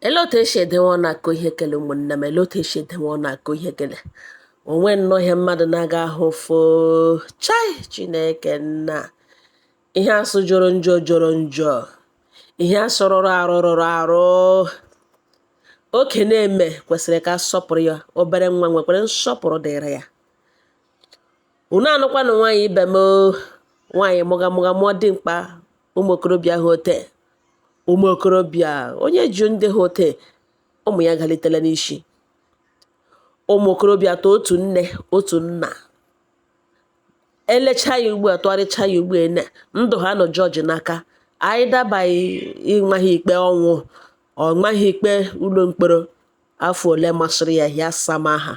elote echi edewe ọ na-akọ ihe kele ụmụnne m elote echi edewe ọ na-akọ ihe kele o nwe nnọọ ihe mmadụ na-aga ahụ fo chai chineke nna ihe asụ jọrọ njọ jọrọ njọ ihe asụ rụrụ arụ rụrụ arụ oke na-eme kwesịrị ka a sọpụrụ ya obere nwa nwekwara nsọpụrụ dịrị ya unu anụkwanụ nwaanyị ibe m oo. nwaanyị mụga mụga mụọ dimkpa ụmụ okorobịa ha ote ụmụ okorobịa onye ju ndị ha ote ụmụ ya galitela n'isi ụmụ okorobịa atọ otu nne otu nna elecha ya ugbu a tụgharịcha ya ugbu a na ndụ ha nọ jọji n'aka anyị dabaghị ịma ha ikpe ọnwụ ọ maa ha ikpe ụlọ mkpọrọ afọ ole masịrị ya ya sama ha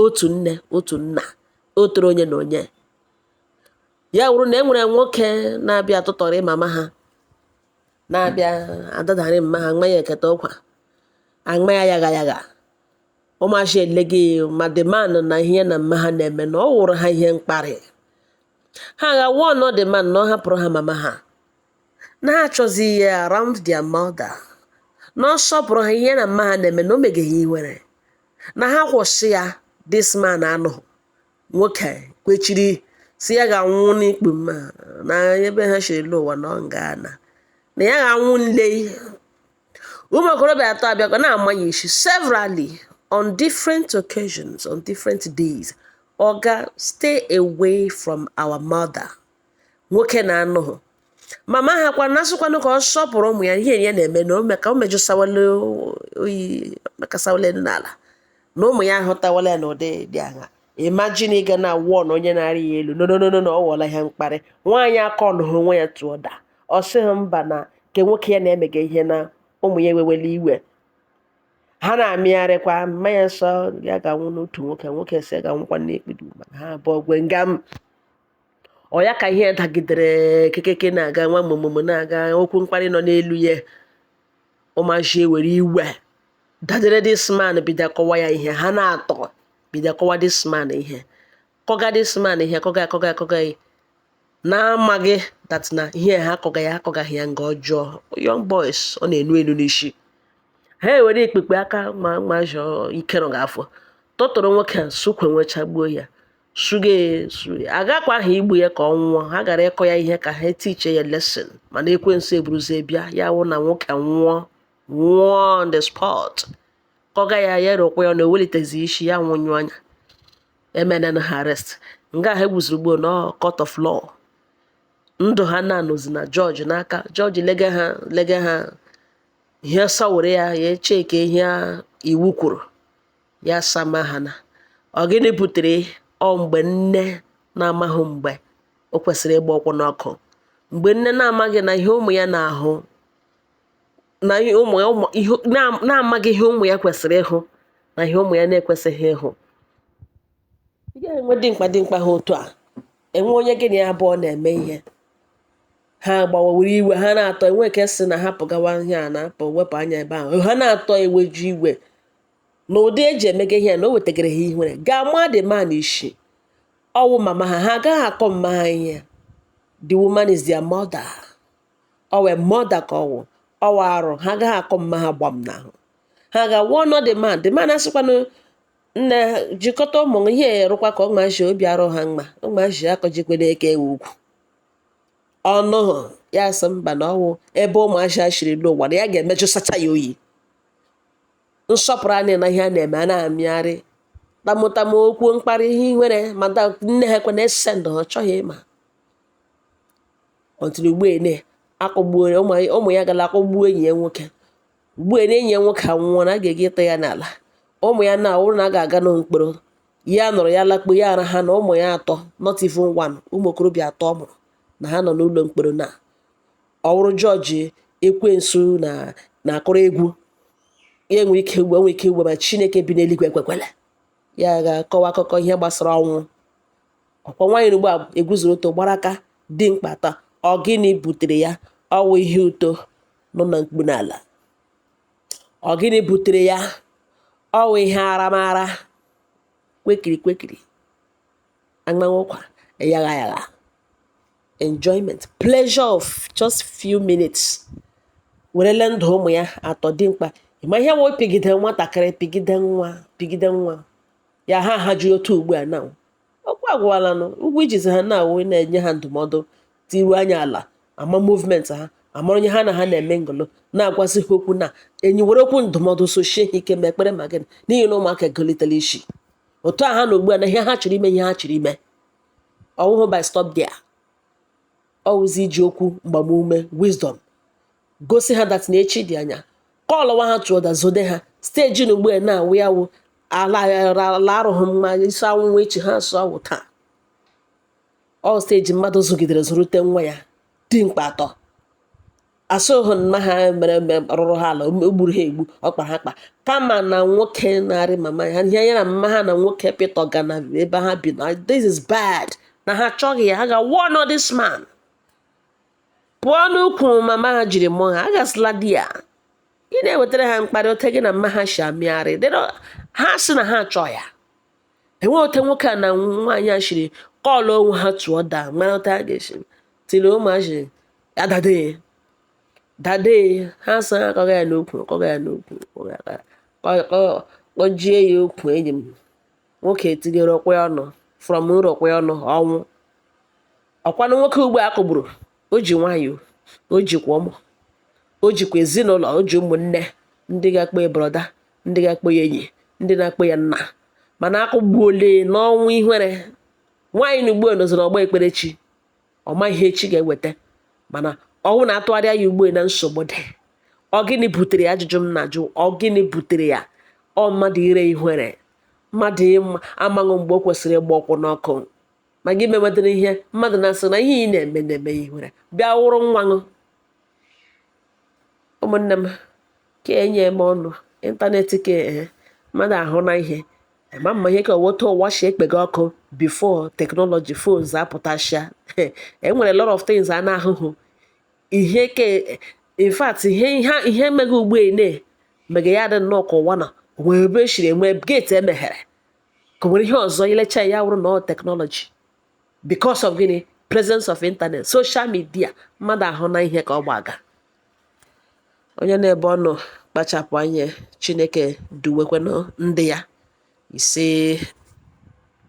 otu nne otu nna otere onye na onye ya wụrụ na e nwere nwoke na-abịa atụtọrị mama ha na-abịa adadarị mama ha nwa ya eketa ọkwa aṅma ya yagha yagha ụmụazị ele gị ma the man na ihe ya na mama ha na-eme na ọ wụrụ ha ihe mkparị ha aga warn the man na ọ hapụrụ ha mama ha na ha achọzị ya around their mother na ọ sọpụrụ ha ihe ya na mama ha na-eme na o mega ha ihere na ha kwụsị ya this man anụghị nwoke kwechiri sị ya ga-anwụ n'ikpu mama ha ebe ha shiri lọ ụwa na ọ nga na na ya ga-anwụ nle ụmụ okorobịa atọ abịakọ na-ama ya isi severally on different occasions on different days oga stay away from our mother nwoke na anụghị mama ha kwa na-asịkwanụ ka ọ sọpụrụ ụmụ ya ihe ya na-eme na ome ka o mejụsawala oyi makasawala elu n'ala na ụmụ ya ahụtawala ya n'ụdị dị aṅa imagine ịga na wụọ na onye na-arị ya elu nononono na ọ ghọọla ihe mkparị nwaanyị aka ọ nụhụ onwe ya tụọ daa ọ sịghị mba na nke nwoke ya na-emega ihe na ụmụ ya ewewela iwe ha na-amịgharịkwa mma ya sị ya ga-anwụ n'utu nwoke nwoke sị ya ga-anwụkwa n'ekpedu mana ha abụọ gwe nga m ọ ya ka ihe dagidere kekeke na-aga nwa mụmụmụ na-aga okwu mkparị nọ n'elu ya ụmụazị ewere iwe dadere this man bido kụwa ya ihe ha n'atọ bido kụwa this man ihe kụga this man ihe kụga akụga akụga ya na-amaghị that na ihe ha akụga ya akụgaghị ya nga ọjọọ young boys ọ na-enu enu n'isi ha ewere ikpekpe aka ma mazụ ike nọ gị afọ tụtụrụ nwoke a sụkwe nwechagbuo ya suga esu agakwaha igbu ya ka ọ nwụọ ha gara ịkụ ya ihe ka ha tiche ya lesson mana ekwensu eburuzie bịa ya wụ na nwoke nwụọ nwụọ on the spot kụga ya ya rụkwa ya na ewelitezi isi ya nwụnyụ anya emenena ha arrest nga ha egwuziri ugbu a na court of law ndụ ha na-anọzi na jọji n'aka jọji lega ha lega ha ihe sawere ya ya echeke ihe iwu kwuru ya sama ha na ọ gịnị butere ọ mgbe nne na-amaghị mgbe o kwesịrị ịgba ụkwụ n'ọkụ mgbe nne na-amaghị na ihe ụmụ ya na-ahụ na ihe ụmụ ya ụmụ- ihe na- na-amaghị ihe ụmụ ya kwesịrị ịhụ na ihe ụmụ ya na-ekwesịghị ịhụ ị gaghị enwe dimkpa dimkpa ha otu a enwe onye gị na ya abụọ na-eme ihe ha gbawawere iwe ha na-atọ enwe nke sị na hapụ gawa ihe a na-apụ wepụ anya ebe ahụ ha na-atọ eweju iwe na ụdị eji emega ihe ya na o wetagara ha ihere ga-ama the man isi ọwụ mama ha ha agaghị akụ mama ha ihe the woman is their mother ọwụ mother ka ọwụ ọwụ arụ ha agaghị akụ mama ha gbam n'ahụ ha ga-awụ nọ the man the man asịkwanụ nna jikọta ụmụ ihe erụkwa ka ụmụaji obi arụ ha mma ụmụaji akụjikwere eke ogwugwu ọnụ ya sị mba na ọwụ ebe ụmụaji a chiri n'ụwa na ya ga-emejụsacha ya oyi nsọpụrụ anyị na ihe a na-eme a na-amịgharị tamụtamụ okwu mkparị ihe nwere ma da nne ha kwena ese ndụ ha chọghị ịma ọtụrụ ugbu ene akụgbuo ụmụ ụmụ ya gara akụgbuo enyi ya nwoke ugbu ene enyi ya nwoke anwụọ na a ga-ege ịta ya n'ala ụmụ ya na ọwụrụ na a ga-aga na mkpọrọ ya nọrọ ya lakpo ya ara ha na ụmụ ya atọ not even one ụmụ okorobịa atọ ọ mụrụ na ha nọ n'ụlọ mkpọrọ na ọ wụrụ jọji ekwensu na na-akụrụ egwu ya enwe ike ugbo enwe ike ugbo ma chineke bi n'eluigwe ekwekwele ya ga-akọwa akụkọ ihe gbasara ọnwụ ọkwa nwaanyị nọ ugbu a egwuzuru ọtọ gbara aka dimkpa atọ ọ gịnị butere ya ọwụ ihe ụtọ nọ na mkpu n'ala ọ gịnị butere ya ọwụ ihe aramara kwekiri kwekiri anya anwụkwa yagha yagha enjoyment pleasure of just few minutes werele ndụ ụmụ ya atọ dimkpa ịma ihe wụ pigide nwatakịrị pigide nwa pigide nwa ya ha ha jụrụ otu ugbu a na okwu agwụlanụ ọgwụ ijizi ha na-awụ na-enye ha ndụmọdụ leru anya ala ama movement ha amara onye ha na ha na-eme ngolo na-agwazi ha okwu na enyi were okwu ndụmọdụ sochie ha ike ma ekpere ma gịnị n'ihi na ụmụaka egolitela isi otu a ha nọ ugbu a na ihe ha chọrọ ime ihe ha chọrọ ime ọwụhụ by stop there ọwụzi iji okwu mgbamume wisdom gosi ha that na echi dị anya callụwa ha to order zode ha stage na ugbu a na-awụ ya wụ ala arụghị mma isi anwụnwụ echi ha sụọ awụ taa ọ stage mmadụ zụgidere zụrụte nwa ya dimkpa atọ asụghị mma ha mere eme rụrụ ha ala o gburu ha egbu ọ kpara ha kpa kama na nwoke na-arị mama ha ihe ya na mma ha na nwoke pịtọ ga na ebe ha bi na this is bad na ha achọghị ya ha ga warn this man pụọ n'ukwu mama ha jiri mụọ ha agasịla di ya ị na-ewetara ha mkparị ote gị na mma ha si amịgharị ha sị na ha achọ ya enweghị ote nwoke a na nwaanyị a shiri call onwe ha to order mara ote ha ga-esi tiri ụmụazị ya dade dade ha sị ha akọga ya n'okwu kpọjie ya okwu enyi m nwoke etinyere ọkwa ọnụ from nrọ ọkwa ọnụ ọnwụ ọkwanụ nwoke ugbu a kụgburu o ji nwaanyị o jikwa ụmụ o jikwa ezinụlọ o ji ụmụnne ndị ga-akpọ ya brother ndị ga-akpọ ya enyi ndị na-akpọ ya nna mana akụgbuole n'ọnwụ ihere nwaanyị na ugbu a nọzi n'ọgba ekperechi ọ ma ihe echi ga-eweta mana ọnwụ na-atụgharịa ya ugbu a na nsogbu dị ọ gịnị butere ya ajụjụ m na-ajụ ọ gịnị butere ya ọ mmadụ ire ihere mmadụ amaghị mgbe o kwesịrị ịgba ọkwụ n'ọkụ ma gị mewetara ihe mmadụ na-asị na ihe ị na-eme na-eme ya ihere bịa wụrụ nwanụ ụmụnne m ka enye m ọnụ internet ka ee mmadụ ahụna ihe ma mma ihe ka ọ wụ ote ụwa si ekpega ọkụ before technology phones apụtasịa e nwere lot of things a na-ahụhụ ihe ke in fact ihe mega ugbu a na mega ya dị nnọọ ka ụwa na o nwere ebe e siri enwe gate e meghere ka o nwere ihe ọzọ i lecha ya wụrụ na technology because of gịnị presence of internet social media mmadụ ahụna ihe ka ọ gbaga Onye nọ ebe ọ nọ kpachapụ anya Chineke duwekwanụ ndị ya ise